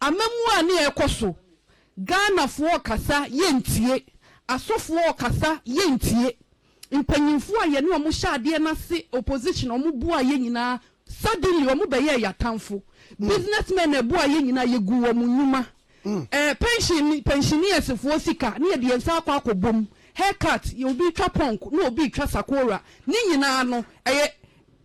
Amamuo a ne ɛkɔ so, Ghanafoɔ rekasa yɛntie, asɔfoɔ rekasa yɛntie, mpanyinfoɔ a yɛne wɔn hyɛ adeɛ no ase, opposition, wɔn boaa yɛn nyinaa, suddenly wɔn bɛyɛɛ yɛn atamfo, business men a ɛboaa yɛn nyinaa yɛguu wɔn nnwuma, ɛɛ pension, pensioneersfoɔ sika ne yɛde yɛn nsa akɔ akɔbɔ mu, hair cut, yɛ obi retwa punk na obi retwa sakora, ne nyinaa no ɛyɛ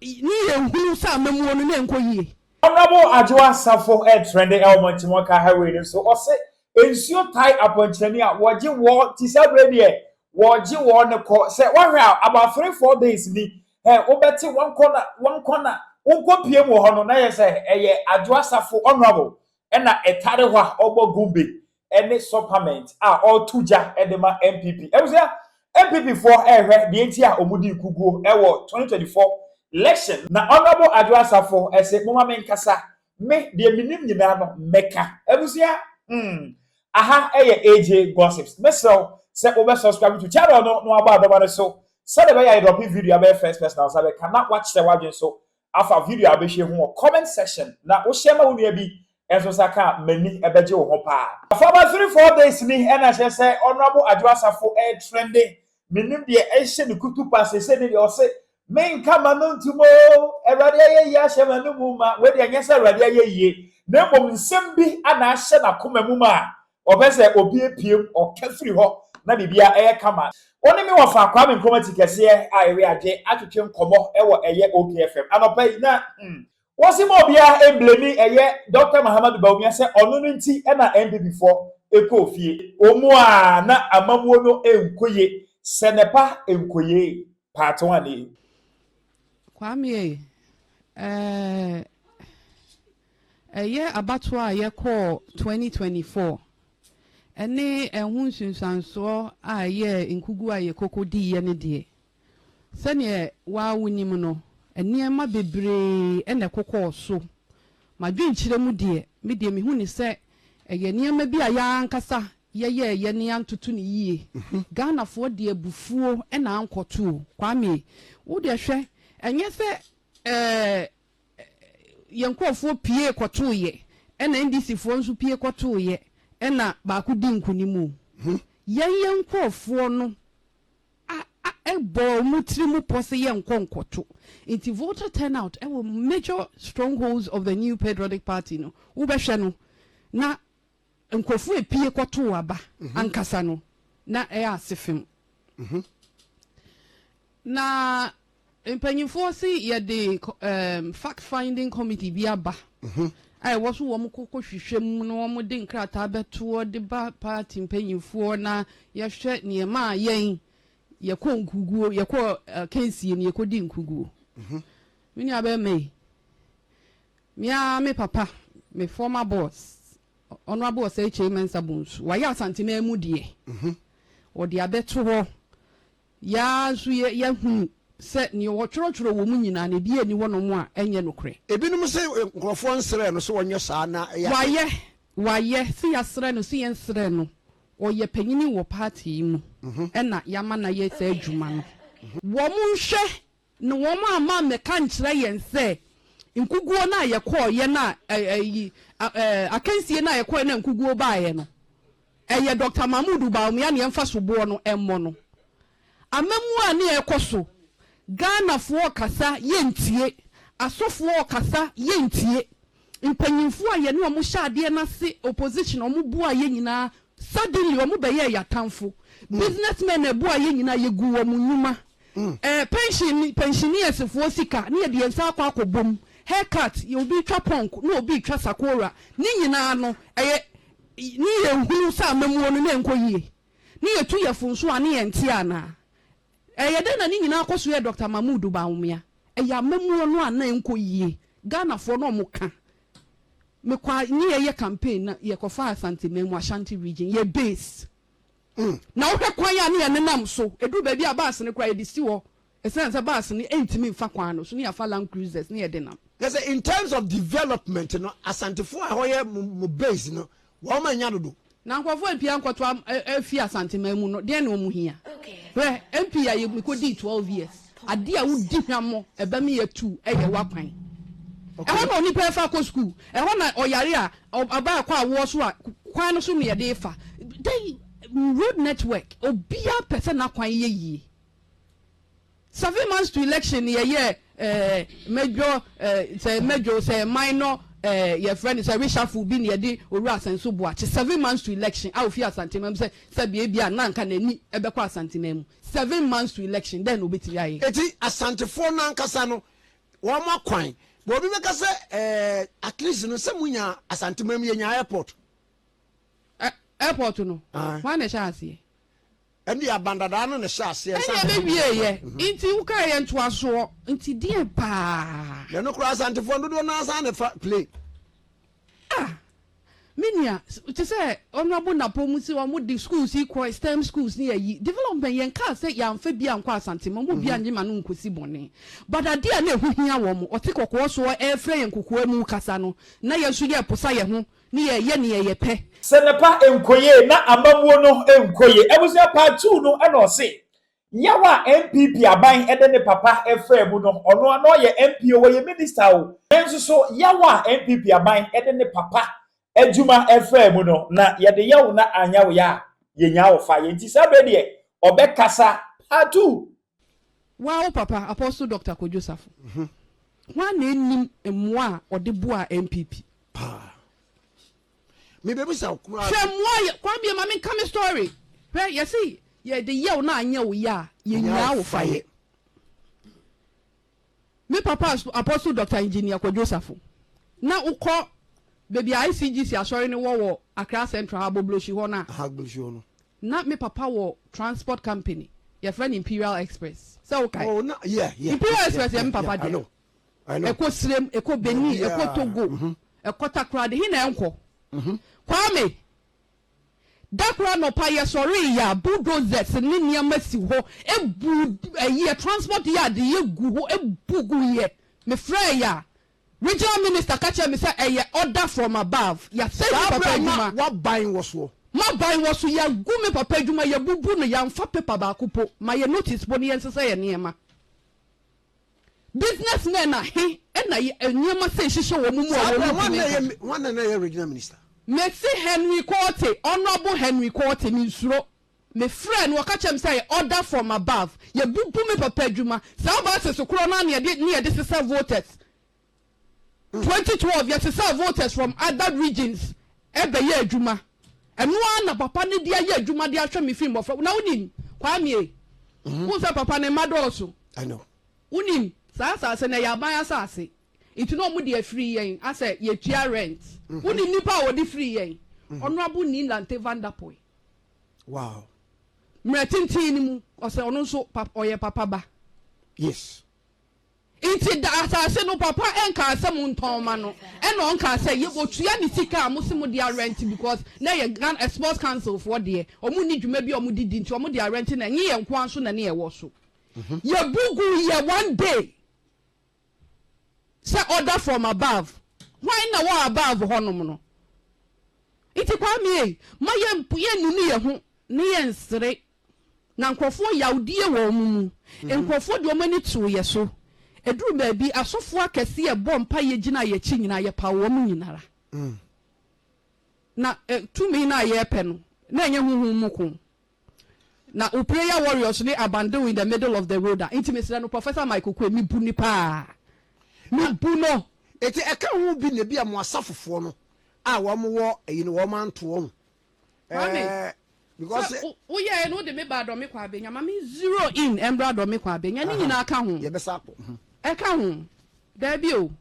ne yɛnhunu sɛ amamuo no na ɛnkɔ yie. Honourable Adwoa Asafo ɛretrɛnde ɛwɔ Montemɔka Highway no so, ɔse nsuo tae apɔnkyerɛni a wɔgye wɔ ti saa berɛ deɛ wɔgye wɔ no kɔ, sɛ woahwɛ a about three four days ni ɛ wobɛte wɔnkɔ na wɔnkɔ na wonkɔ pie mu wɔ hɔ no na yɛ sɛ ɛyɛ Adwoa Asafo Honourable ɛna ɛtare hɔ a ɔbɔ gumbe ne Sopament a ɔreto gya de ma NPP. Abusua, NPP foɔ rehwɛ deɛ nti a wɔdii kuguo wɔ 2024 election. Na Honourable Adwo Asafo se moma me nkasa, me deɛ menim nyinaa no mɛka. Abusua, hmm, aha yɛ AJ Gossips. Mesrɛ wo sɛ wobɛ subscribe to channel no na wabɔ adɔma no so sɛdeɛ ɛbɛyɛ a yɛdrɔpe video a bɛyɛ first person a wo nsa bɛka na woakyerɛ w'adwene so afa video a wobɛhwɛ ho wɔ comment section na wo share ma wo nua bi nso nsa ka a m'ani bɛgye wo ho paa. Fama three four days ni ɛna kyerɛ sɛ Honourable Adwo Asafo ɛretrende, mennim deɛ ɛhyɛ ne kutupa sese ne deɛ ɔse menka m'ano ntom oo, Awurade ayɛyie ahyɛ m'ano mu ma, wei deɛ nyɛ sɛ Awurade ayɛyie na mmom nsɛm bi ana ahyɛ n'akoma mu ma Wɔpɛ sɛ obi apuem, ɔka firi hɔ na biribiara yɛ kama. Wo ne me wɔ fa Kwame Nkrumah ti kɛseɛ a ɛwe adwe atwetwe nkɔmmɔ wɔ ɛyɛ OK FM anɔpa yi na hmm. Wɔse ma obiara mblemi ɛyɛ Dɔkta Mahamadu Bawumia sɛ ɔno no nti na NPP foɔ kɔɔ fie. Wɔn mu a na amammuo no nkɔ yie sɛ nɛpa nkɔyie. Paate wa ne. Kwame ei, ɛɛ, ɛyɛ abatoɔ a yɛkɔɔ 2024 ɛne ɛho nsunsuansoɔ a ɛyɛ nkugu a yɛkoko diiɛ no deɛ, sɛdeɛ waa wonim no, nneɛma bebree na ɛkokɔɔ so. M'adwenkyerɛ mu deɛ, me deɛ mehu no sɛ ɛyɛ nneɛma bi a yɛn ankasa Yɛyɛɛ yɛne antoto no yie. Ghanafoɔ de abufuo na ankɔto o. Kwame, wo deɛ hwɛ, ɛnyɛ sɛ ɛɛɛ yɛn nkorɔfoɔ pie kɔtoeɛ ɛna NDC foɔ nso pie kɔtoeɛ ɛna baako dii nkunim o. Yɛn yɛn nkorɔfoɔ no a a ɛbɔɔ wɔn tiri mu pɔ sɛ yɛnkɔ nkɔto. Nti voter turnout ɛwɔ major strongholds of the new patriotic party no, wobɛhwɛ no na Nkurɔfo a epue kɔtow aba ankasa no, na ɛyɛ ase fem. Na mpanyimfo se yɛde fact finding committee bi aba a ɛwɔ so wɔkɔ kɔhwehwɛ mu na wɔde nkrataa bɛtoɔ de ba party mpanyimfoɔ na yɛhwɛ nea ɛmaa yɛn yɛkɔ nkuguo, yɛkɔ akansie no, yɛkɔdi nkuguo. Me nuabɛrima yi, Me ara me papa, me former boss, Honourable Osei Kyei Mensah Bonsu, wayɛ Asante man mu deɛ ɔde abɛto hɔ. Yɛn ara nso yɛahunu sɛ deɛ wɔtwerɛtwerɛ wɔ mu nyinaa no, ebiara nni hɔnom a ɛnyɛ nokorɛ. Ebinom se nkurɔfoɔ nsrɛɛ no sɛ ɔnyɛ saa na ɛyɛ ade. Wayɛ, wayɛ. Se yɛasrɛ no, se yɛnsrɛɛ no, ɔyɛ panyini wɔ party yi mu, ɛna yɛama no ayɛ saa adwuma no. Wɔnhwɛ Na wɔamma ammɛka ankyerɛ yɛn sɛ nkuguo no a yɛkɔeɛ no a ɛ, ayi, a, ɛ, akansie no a yɛkɔeɛ no a nkuguo baeɛ no, ɛyɛ Dɔkta Mahmoud Bawumia na yɛmfa soboɔ no mmɔ no. Amammuo a na ɛrekɔ so, Ghanafoɔ rekasa, yɛntie. Asɔfoɔ rekasa, yɛntie. Mpanyimfo a yɛne wɔn hyɛ adeɛ no ase, opposition, wɔn boaa yɛn nyinaa, suddenly wɔn bɛyɛɛ yɛn atamfo. Business men na ɛboaa yɛn nyinaa, yɛguu wɔn nnwuma. Ɛɛ pension, pensionier'sfoɔ sika ne yɛde yɛn nsa akɔ akɔbɔ mu, hair cut, obi retwa punk na obi retwa sakora, ne nyinaa no ɛyɛ ne yɛn hunu sɛ amammuo no na ɛnkɔ yie, ne yɛtu yɛfo nso a ne yɛnteɛ anaa? Ɛyɛ dɛn na ne nyinaa kɔ so yɛ Dɔkta Mahmood Bawumia? Ɛyɛ amammuo no a na ɛnkɔ yie. Ghanafoɔ no wɔka, mekɔ a ne yɛyɛ campaign na yɛkɔfaa Asante man mu, Ashanti region, yɛ base. Na wohwɛ kwan a ne yɛnenam so, ɛduru baabi a bus no koraa yɛde si hɔ ɛsiane sɛ bus no ɛntumi mfa kwan no so, ne yɛafa land cruisers ne yɛde nam. Kyerɛ sɛ in terms of development no, Asantefoɔ a ɛhɔ yɛ mo base no, Wɔn ma nya dodo. Na nkurɔfoɔ apia nkɔto am afi Asanteman mu no, deɛn na wɔn hia? Hwɛ, MP a yɛ me kɔ dii twelve years, adeɛ a wo di hwammɔ, ɛba me yɛ tu, ɛyɛ w'akwan. Ɛhɔ na onipa ɛfa kɔ school, ɛhɔ na ɔyare a, ɔba ɛkɔ awoɔ so a, kwan no so na yɛde fa. Dɛn, road network, obiara pɛ sɛ n'akwan yɛ yie. Seven months to election no yɛyɛ eh, mɛdwo eh, sɛ mɛdwo sɛ man no eh, yɛfrɛ no sɛ reshuffle bi na yɛde owura asɛnso boakye seven months to election a ofi asantema mu sɛ sɛ beebi a na nka n'ani ɛbɛkɔ asantema mu seven months to election dɛn na obetumi ayɛ. eti asantefoɔ no ankasa no wɔn akwan bɔ obi bɛka sɛ eh, at least no sɛ mo nya asantema mu yɛ nya airport. Ɛ- airport no Aye. wɔn na ɛhyɛ aseɛ Ɛnde aban dadaa no na ɛhyɛɛ aseɛ ansa na. Ɛnneɛ me wieeɛ nti wo kaa yɛ ntoasoɔ nti deɛn paa. Na ɛno koraa Asantefoɔ dodoɔ no ara san na ɛfa play. Ah me nua te sɛ Honourable Napom se wɔn de schools yi kɔ STEM schools ne ayi development yɛn kaa sɛ yɛanfa bi ankɔ Asante ma wɔn bi annye ma no nkɔsi bɔne but adeɛ a na ɛho hia wɔn ɔte kɔkɔɔ soɔ ɛrefrɛ yɛn kokoa mu kasa no na yɛn nso yɛreposa yɛn ho Ne yɛ yɛ neɛ yɛ pɛ. Sɛ ne pa nkoye na amamuo no nkoye. Abusua part two no na ɔse yaw a NPP aban de ne papa faa mu no ɔno ara na ɔyɛ MP o ɔyɛ minister o yɛn nso so yaw a NPP aban de ne papa adwuma faa mu no na yɛde yɛ wo na anyaw yɛ a yɛnyaa wo fa yɛ nti saa berɛ deɛ ɔbɛkasa part two Woaa wo papa Apostle Doctor Kojo Safo hwan na ɛnnim mmoa a ɔde boaa NPP? Paa. Me bɛ bisa wo koraa. Hwɛ mmoa yɛ kwan bie ma me nka me story. Hwɛ yɛsi yɛ de yɛw na anyɛ wo yɛ a yɛ nyaa wo fa yɛ. Me papa Apostle Doctor Engineer Kwadwo Safo, na wo kɔ baabi a ICGC asɔre no wɔ wɔ Accra Central ha Bobloshi hɔ no a, Aha Bobloshi hɔ no. na me papa wɔ transport company yɛfrɛ no Imperial Express sɛ wo kae? Oh na yeah yeah. Imperial Express yɛ me papa dea. I know I know. Ɛkɔ Sirem, ɛkɔ Benin, ɛkɔ Togo, ɛkɔ Takoradi, he na ɛnkɔ? Kwame, Da koro anɔpa yɛsɔree yɛ a bulldozers ne nneɛma si hɔ bu ɛyɛ transport yard yɛ gu hɔ bu gu yɛ me frɛɛ yɛ a regional minister ka kyerɛ me sɛ ɛyɛ order from above yɛasɛe me papa adwuma saa berɛ a na waban wɔ soɔ. Maban wɔ so yɛagu me papa adwuma yɛabubu no yɛamfa paper baako po ma yɛ notice po no yɛnsesa yɛ nneɛma. Business men a he na yɛ nneɛma sei hyehyɛ wɔn mu a Saa berɛ wɔntumi hwan na nka? ɛyɛ hwan na ɛyɛ regional minister? Mese Henry Quartey, Honourable Henry Quartey, mensuro. Me frɛɛ no, ɔka kyerɛɛ me sɛ yɛ order from above. Yɛbubu me papa adwuma. Saa buses korɔ no ara ne yɛde ne yɛde sesa voters. Twenty twelve yɛsesaa voters from other regions bɛyɛɛ adwuma ɛno ara na papa no de ayɛ adwuma de ahwɛ me firi mmɔfra na wonim Kwame wohu sɛ papa ne mma dɔɔso wonim saa asase no ɛyɛ aban asase nti na wɔn de afiri yɛn asɛ yɛtua rent wonim nipa a wɔde firi yɛn Honourable Nilante Van Der Poel wow mmerɛ tenten no mu ɔsɛ ɔno nso ɔyɛ papa ba yes. Nti da asase no papa nkaa sɛ mo ntɔn mma no ɛna ɔnkaa sɛ yɛ ɔtua ne sika a mo se mo de arɛnte because na ɛyɛ Ghana sports council foɔ deɛ ɔmo nni dwuma bi a ɔmo de di nti ɔmo de arɛnte na ɛnye yɛn nkoa nso na ne yɛ wɔ so yɛ bu gu yɛ one day sɛ order from above hwan na wɔ above hɔ nom no nti Kwame ei ma yɛ nunu yɛ ho ne yɛ nsere. Na nkurɔfoɔ yawdie wɔ wɔn mu. Nkurɔfoɔ de wɔn ani too yɛ so. Ɛduruu baabi, asɔfoɔ akɛseɛ bɔɔ mpaeɛ gyinaa yɛ akyi nyinaa, yɛpaw wɔn nyina ara. Na tumi no a yɛrepɛ no, na ɛnyɛ honhom mu ko. Na wo prayer warriors ne abandon in the middle of the road a, nti mesrɛ no Professor Michael Quay, mebu no paa. Mebu no. Nti ɛka ho bi na ebia mo asafofoɔ no a wɔn wɔ ayi no wɔn anto wɔn Maame, sɛ woyɛɛ no wode me baa Dɔme kɔ Abenya, ma me zero in mmra Dɔme kɔ Abenya ne nyinaa ka ho. Yɛbɛsa akɔ. Ɛka ho. Daabi o.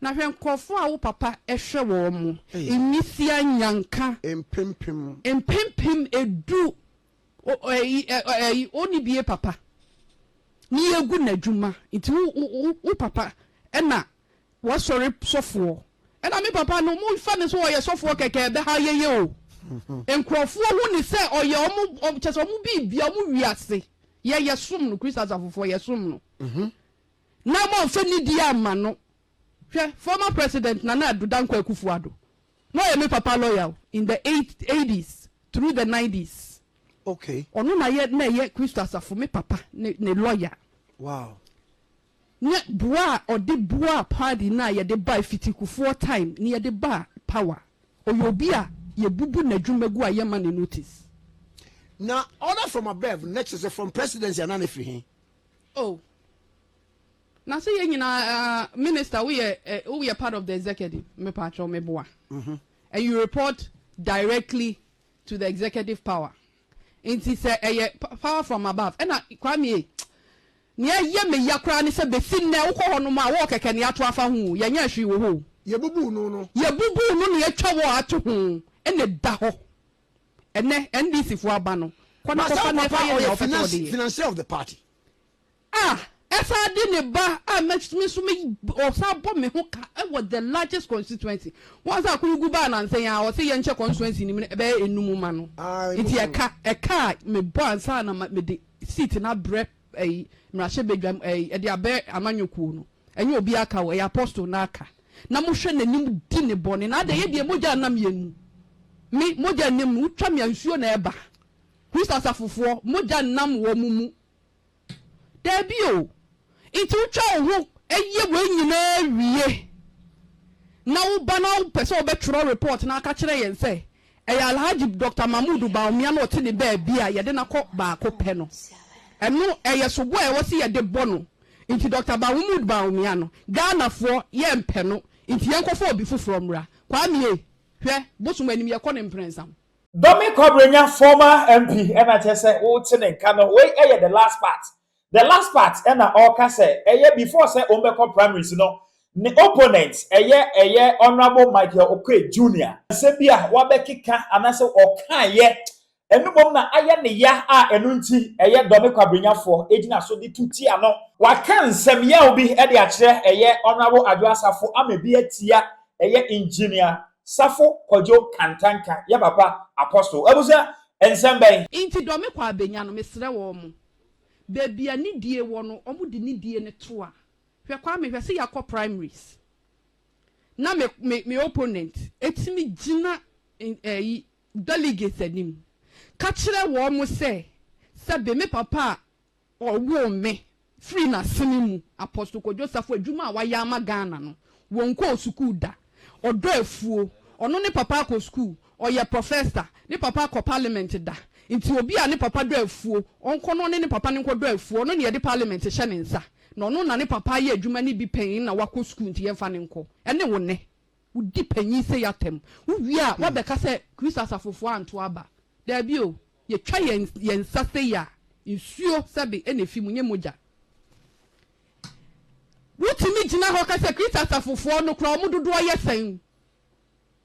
Na hwɛ nkurɔfoɔ a wo papa hwɛ wɔn mo, Nwisia Nyanka. Mpempem. Mpempem edu. Ɛyi, ɛyi, ɔnni bie papa. Ne yɛgu n'adwuma. Nti wo, wo, wo papa na W'asɔre sɔfoɔ ɛna me papa no mo fa no sɛ ɔyɛ sɔfoɔ kɛkɛ ɛbɛha yɛyɛ o nkurɔfoɔ hu no sɛ ɔyɛ ɔmo kyɛ sɛ ɔmo biribia ɔmo wiase yɛ yɛ som no Christ asafofoɔ yɛ som no na mo amfa nidie amma no hwɛ former president Nana Addo Dankwa Akufo Addo na ɔyɛ me papa lawyer o in the eighties through the nineties okay ɔno na yɛ na ɛyɛ Christ asafo me papa ne ne lawyer wow Nyɛ boa a ɔde boaa party no a yɛde bae fitikufoɔ time no yɛde baa power ɔyɛ obi a yɛbubu nadwuma gu a yɛma no notice. Na order from above na kyerɛ sɛ from presidency anaa na ɛfiri he? Oh na sɛ yɛ nyinaa ah minister wo yɛ eh wo yɛ part of the executive me pa kyɛw me boa and you report directly to the executive power. Nti sɛ ɛyɛ power from above ɛna Kwame ei Nea ɛyɛ me ya koraa ne sɛ bɛsi nnɛ wokɔ hɔ nom a wɔɔ kɛkɛ nea ato afa ho o yɛnyɛɛ hwee wɔ hɔ o. Yɛbubuu no no. Yɛbubuu no nea atwa wɔɔ ato ho ɛna ɛda hɔ ɛnɛ NDC foɔ aba no kɔ na kɔfa na ɛfa yɛ nea wopɛ sɛ wɔde yɛ. Financier of the party A ɛsan de ne ba a me nso me ɔsan bɔ me ho ka wɔ the largest constituency. Once a Kunugu baa nansa yi a ɔse yɛnkyɛ constituency no mu no ɛbɛyɛ enum ma no. Nti ɛka ɛka a mebɔ ansa na mede seat no abrɛ ɛyi mmarahyɛ badwam ɛyi ɛde abɛ amanyɔ kuo no ɛnyɛ obi aka o ɛyɛ apostle no aka na mohwɛ n'anim di ne bɔne na adɛ yɛ deɛ mogya nam yɛn mu me mogya nim no wotwa me a nsuo na ɛba Christ asafofoɔ mogya nam wɔn mu Dabi o, nti wotwa wo ho yɛ wei nyinaa wie na woba na wopɛ sɛ wobɛtwerɛ report na aka kyerɛ yɛn sɛ ɛyɛ Alhaji Doctor Mahmood Bawumia na ɔte ne baabi a yɛde no akɔ baako pɛ no. Ɛno ɛyɛ soboɔ a ɛwɔ sɛ yɛde bɔ no. Nti Doctor Mahmood Bawumia no, Ghanafoɔ yɛmpɛ no, nti yɛnkɔfa obi foforɔ mmra. Kwame ei, hwɛ, bosom anim yɛkɔ ne mprɛnsa ho. Dɔme Kwabrenya former MP ɛna kyɛ sɛ wote ne nka no wei ɛyɛ the last part the last part ɛna ɔka sɛ ɛyɛ before sɛ ɔmbɛkɔ primaries no ne opponent ɛyɛ ɛyɛ Honourable Michael Oquaye Junior. Asɛm bi a wabɛkeka anasɛ ɔkaeɛ ɛno mmom na ayɛ ne ya a ɛno nti ɛyɛ Dɔme Kwabrenya foɔ ɛgyina so de tu tia no. Waka nsɛm yaw bi ɛde akyerɛ ɛyɛ Honourable Adwoa Safo ama bi atia ɛyɛ Engineer Safo Kwadwo Kantanka yɛ papa Apostle. Abusua nsɛm bɛn. Nti dɔ me kɔ a bɛnya no mesrɛ wɔn. Baabi a nidie wɔ no wɔn de nidie no to a. Hwɛ Kwame hwɛ sɛ yɛakɔ primaries na me me me opponent ɛtumi gyina ɛyi delegates anim ka kyerɛ wɔn sɛ sɛbe me papa a Ɔwoo me firii n'asene mu. Apostle Kojo Safo adwuma a wayɛ ama Ghana no, wɔnkɔɔ sukuu da. Ɔdɔ afuo. Ɔno ne papa akɔ sukuu. Ɔyɛ professor. Ne papa akɔ parliament da. Nti obi a ne papa dɔ afuo, ɔnkɔ na ɔne ne papa no nkɔdɔ afuo. Ɔno na yɛde parliament hyɛ ne nsa. Na ɔno na ne papa ayɛ adwuma no bi pɛn na wakɔ sukuu nti yɛmfa no nkɔ. Ɛne wo nnɛ. Wodi panyin sei atɛm. Wowie a, woabɛka sɛ Kristo asafofo antow aba. Dabi o, yetwa yɛn yɛn nsa sei a, nsuo sɛbe na efi mu, nyɛ mogya. Wotumi gyina hɔ ka sɛ Kristo asafofoɔ no koraa, wɔn dodoɔ yɛ sɛn?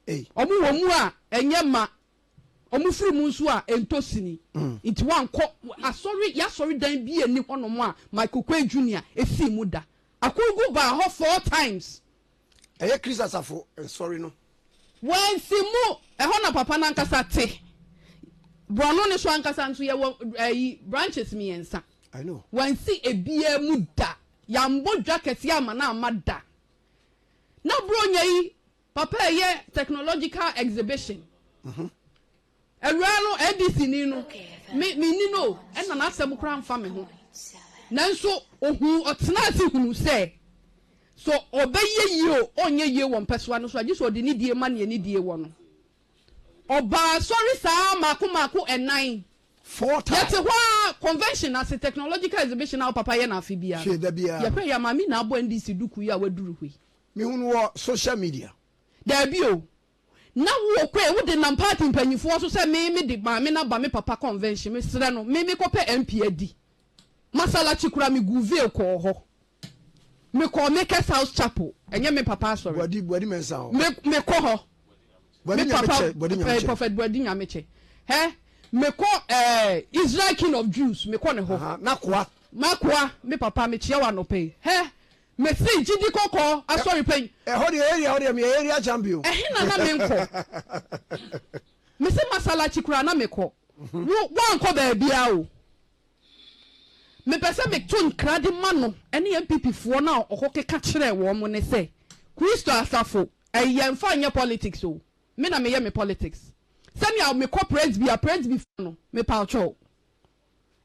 Wɔn wɔ mu a, ɛnyɛ mma. Wɔn firi mu nso a, ɛntɔ sini. Nti woankɔ asɔre, yɛn asɔredan bi a ɛnni hɔnom a Michael Quay Junior sii mu da. Akurgu baa hɔ four times Ɛyɛ Kristo asafo nsɔre no. Wansi mu, ɛhɔ na Papa no ankasa te. Borɔno no so ankasa nso, yɛwɔ ayi, branches mmiɛnsa. I know. Wansi ebiara mu da. Yɛambɔ dwa kɛseɛ amma no amma da. Na Buronya yi, Papa ɛyɛ technological exhibition. Awuraa no ADC ni no me me nni no o ɛna n'asɛm koraa mfa me ho nanso ohuu ɔtenaa ase hunuu sɛ sɛ ɔbɛyɛ yie o ɔnyɛ yie wɔ mpɛsoa no so a gye sɛ ɔde nidie ma nea nidie wɔ no. Ɔbaa asɔre saa mmaako mmaako ɛnan. Four times. Yɛte hɔ ara convention ase technological exhibition a wo papa yɛ no afe biara Hwɛ no da biara. yɛhwɛ yɛ a Maame Naa abɔ NDC duku yi a waduru hɔ yi. Mehu no wɔ social media. Daabi o Na wo okue wo de nam party mpanyinfoɔ so sɛ me me de maame no aba me papa convention me srɛ no me me kɔ pɛ MP adi masalachi koraa me guu veil kɔɔ hɔ me kɔɔ makers house chapel ɛnyɛ me papa asɔre me me kɔ hɔ me papa eh, prophet buadi nyamekyɛ hɛ me kɔ eh, Israel king of Jews me kɔ ne hɔ makoa me papa me kyeɛ wa nɔpɛ hɛ Mefiri gyidi kɔkɔɔ asɔre pa yi. Ɛhɔ deɛ area hɔ deɛ meyɛ area champion. Ɛhena na menkɔ. Mese masalachi koraa na mekɔ. Wo woankɔ baabiaa o. Mepɛsɛ meto nkra de ma no ɛne NPP foɔ no a ɔkɔ keka kyerɛɛ wɔn ne sɛ Christo asafo ɛyi yɛnfa nyɛ politics o me na meyɛ me politics sɛnea mekɔ presby a presby foɔ no mepaokyɛw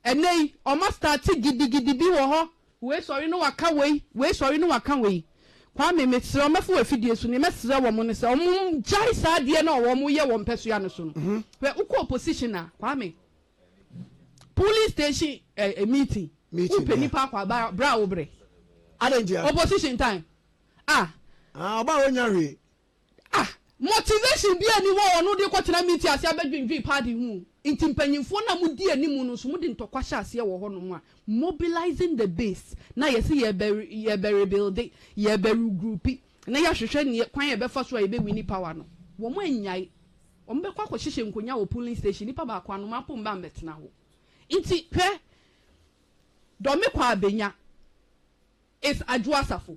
Ɛnɛ yi wɔn astarte gidigidi bi wɔ hɔ. Wei sɔre na waka wei, wei sɔre na waka wei. Kwame mesrɛ wo mɛfa wo afidie so, nea mɛsrɛ wɔn ne sɛ wɔn ngyae saa adeɛ no a wɔn yɛ wɔn mpɛsoa no so no. Hwɛ wo kɔ opposition a Kwame, polling station ɛɛ meeting, wo pɛ nipa akɔ aba bra wo brɛ. Adɛn ntia? Opposition time ah. Ah ɔbaa wɔn nya hwee. Ah! Motivation biaa nni hɔ a ɔno de kɔtena meeting ase abɛdwendwen paadi ho o. Nti mpanyimfoɔ no a modi anim no nso mode ntɔkwa hyɛ aseɛ wɔ hɔnom a, mobilizing the base na yɛse yɛɛbɛ yɛɛbɛ rebuilde, yɛɛbɛ regroupi na yɛahwehwɛ neɛ kwan a yɛbɛfa so a yɛbɛ winni power no. Wɔn anyae. Wɔn bɛkɔ akɔhyehyɛ nkonwa wɔ polling station, nipa baako ano mapɔ mma mmɛtena hɔ. Nti hwɛ, Dormikwa Abenya is Adwoa Safo.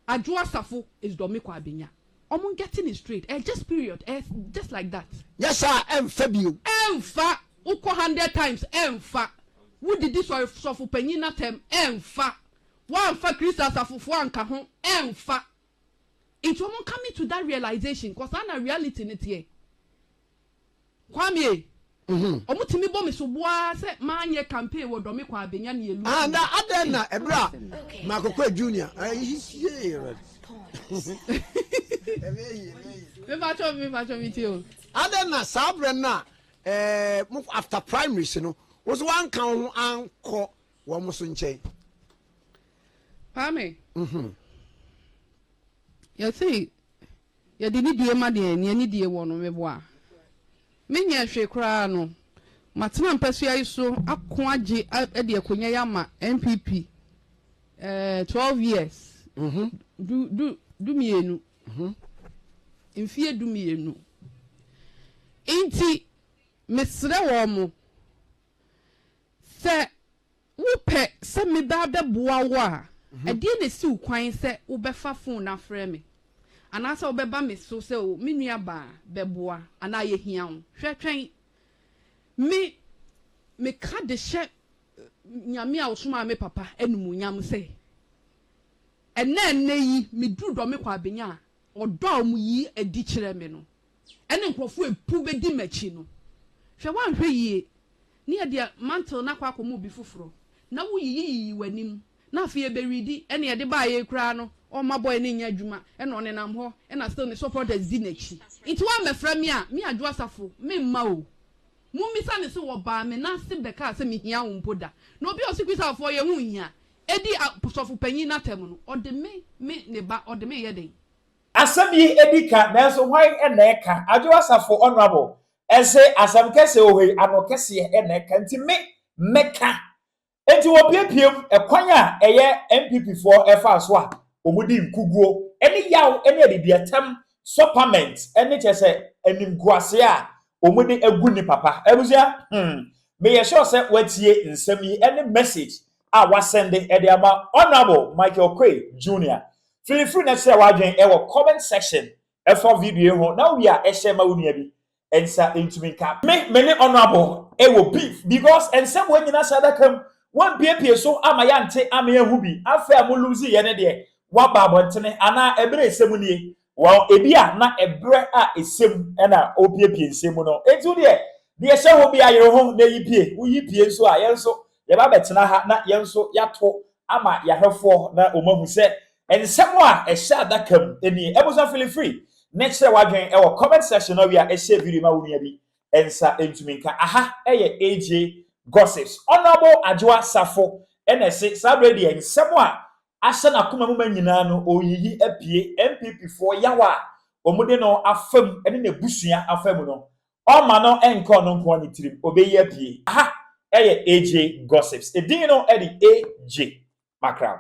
Adwo asafo is dɔmekɔ abenya ɔmo getting it straight eh just period eh just like that. Nyɛ saa ɛnfa bio. Ɛnfa, wo kɔ hundred times ɛnfa, wo didi sɔre sɔfo panyin natɛm ɛnfa, woanfa Christ asafofo anka ho ɛnfa, nti ɔmo coming to that realization cause saa na reality no teɛ. Kwame, Ɔmo tumi bɔ me sobo ara sɛ manyɛ campaign wɔ Dɔme Kwaa Benya ne Elu ho. Na adɛn na ɛberɛ a Makokwe Junior Me patrɔ, me patrɔ me tie o. Adɛn na saa berɛ no a mo after primaries no, wo nso woanka wo ho ankɔ wɔn nso nkyɛn? Kwame, Yɛsee. Yɛde nidie ma deɛ nea nidie wɔ no meboa. Menyɛɛ hwee koraa no, matena mpasua yi so ako agye de akonya yi ama NPP ɛɛ twelve years, du du dumienu, mfie dumienu. Nti mesrɛ wɔn sɛ. Wopɛ sɛ meba abɛboa wo a, ɛdeɛn na ɛsi wo kwan sɛ wobɛfa fon no afrɛ me? Anaasɛ wobɛba me so sɛ, 'O, me nuabaa, bɛboa, anaa yɛhia wo? Hwɛ, twɛn. Me, meka de hyɛ Nyame a ɔsomaa me papa animuonyam sɛ, ɛnnɛ-ɛnnɛ yi, meduru dɔ me kwaabenya a ɔdɔ a wɔyi adi kyerɛ me no. ɛne nkurɔfo a epuw bedi m'akyi no. Hwɛ, woanhwɛ yiye, ne yɛde mantle no akɔ akɔma obi foforo, na wuyiyiyii w'anim, na afei ebewidi, ɛnna yɛde bae yi koraa no, ɔmma boy no nyɛ adwuma, ɛnna ɔnenam hɔ, ɛnna still ne supporters di n'akyi. Enti woammɛfrɛ me a, me Adwo Asafo, meremma o. Mummisa no sɛ wɔbaa me nan ase bɛkaa sɛ mihia wo mpo da. Na obi a ose Christafoɔ yɛn ho nhia, edi asɔfopanyin no atɛm no, ɔde me, me ne ba, ɔde me reyɛ dɛn? Asɛm yi edi ka nanso hwan na ɛka? Adwo Asafo Honourable se asɛm kɛseɛ wɔ hɔ yi ano kɛseɛ na ɛka nti me mɛka. Enti wɔpiapiam kwan a ɛyɛ NPP foɔ ɛfaa so a wɔdi nkuguo ne yaw ne adidiatam sɔ pament ne kyerɛ sɛ animguaseɛ a wɔde agu nni papa. Abusua hmm meyɛ sure sɛ woatie nsɛm yi ne message a wasɛnde de ama Honourable Michael Oquaye Junior. Filifili na kyerɛ w'adwene wɔ comment section fa video yi ho na wia hyɛ ma wo nua bi nsa ntumi nka. Me me ne Honourable wɔ beef because nsɛm wanyina saa adaka mu, wampiepie so ama yɛante ama yɛanhu bi, afei a mo lose yɛ no deɛ waba abɔntene anaa ɛberɛ nsɛm nie? Well, ebia na ɛberɛ a ɛsɛ mu na ɔrepiepie nsɛm mu no, enti wo deɛ, deɛ ɛhyɛ wo bea yere ho na yi pie, wo yi pie nso a, yɛn nso yɛba bɛtena ha na yɛn nso yɛato ama yɛahwɛfoɔ na wɔn ahu sɛ nsɛm a ɛhyɛ adaka mu nie. Abusua feel free ne kyerɛ w'adwen wɔ comment section no awia ɛhyɛ video ma wo nua bi nsa ntumi nka. Aha ɛyɛ AJ Gossips, Honourable Adwoa Safo ɛna ɛse saa berɛ deɛ nsɛm a ahyɛ n'akoma mu ma nyinaa no ɔreyiyi apue NPP foɔ yaw a wɔde no afa mu ne n'abusua afa mu no ɔmma no nkɔ ɔno nko ara ne tirim ɔbɛyi apue aha ɛyɛ AJ Gossips edin no ɛde AJ Makraw.